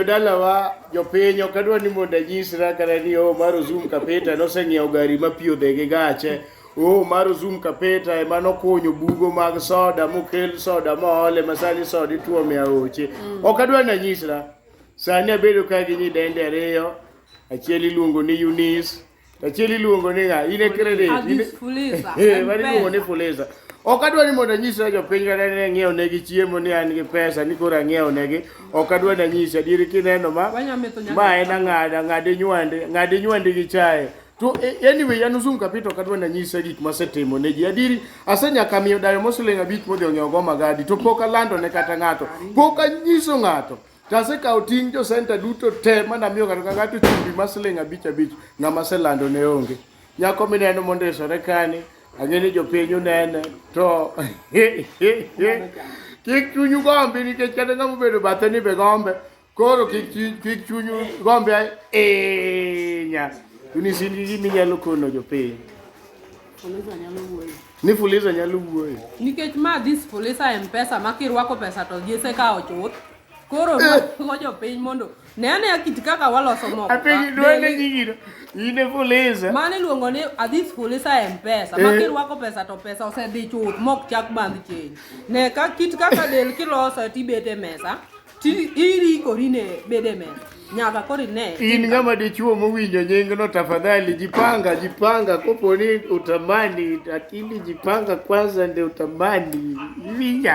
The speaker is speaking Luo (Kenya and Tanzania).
Jodalawa, jopiny ok adwa ni mondo anyisra kata ni oh maro zoom kapeta noseng'iewo gari ma pi odhe gi gache. Oh maro zoom kapeta ema nokunyo bugo mag soda mokel soda moole ma sani soda ituome e aoche. Ok adwa ni anyisra. Sani abedo ka gi nyidende ariyo. Achiel iluongo ni Eunice. Achiel iluongo ni ng'a? In e credit. Abis fuliza. Eh, mari iluongo ni fuliza. Ok adwa ni mondo anyisra jopiny kata ni ang'iew negi chiemo ni an gi pesa ni koro ang'iew negi. Ok adwa ni anyisi adieri kineno ma ma en ang'ada ng'adi nywande ng'adi nywande gi chae. To eh, anyway an Uzum Kapito ok adwa ni anyisa gik masetimo ne ji. Adieri asenyaka miyo dayo mosling abich modhi ong'iewo go magadi to pok alando ne kata ng'ato. Pok anyiso ng'ato. To asekawo ting' jo senta duto te mana miyo ng'ato ka ng'ato chumbi ma siling' abich abich ng'ama selando ne onge. Nyako mineno mondisore kani, ang'e ni jopiny unene to kik chunyu gombi nikech kata ng'ama obedo bathe ni be gombe koro kik chi- kik chunyu gombi ahinya. Unisini gima inyalo kono jopiny. Fuliza nyalo wuoyo. Ni Fuliza nyalo wuoyo. Nikech ma this Fuliza M-Pesa ma kirwako pesa to jese ka ochuth. Koro ruako eh. jopiny mondo ne ane kit kaka waloso moko. Apiny dwende gigino. Ine Fuliza. Mane iluongo ni Adhis Fuliza M-Pesa. Ma eh. kirwako pesa to pesa osedhi chuth mok chak bandh chenj. Ne ka kit kaka del kiloso tibete mesa. Ti irikori ne bede me nyaka koro ine. In ng'ama dichuo mowinjo nyingno, tafadhali jipanga, jipanga. Kopo ni utamani, lakini jipanga kwanza ndio utamani. Winja.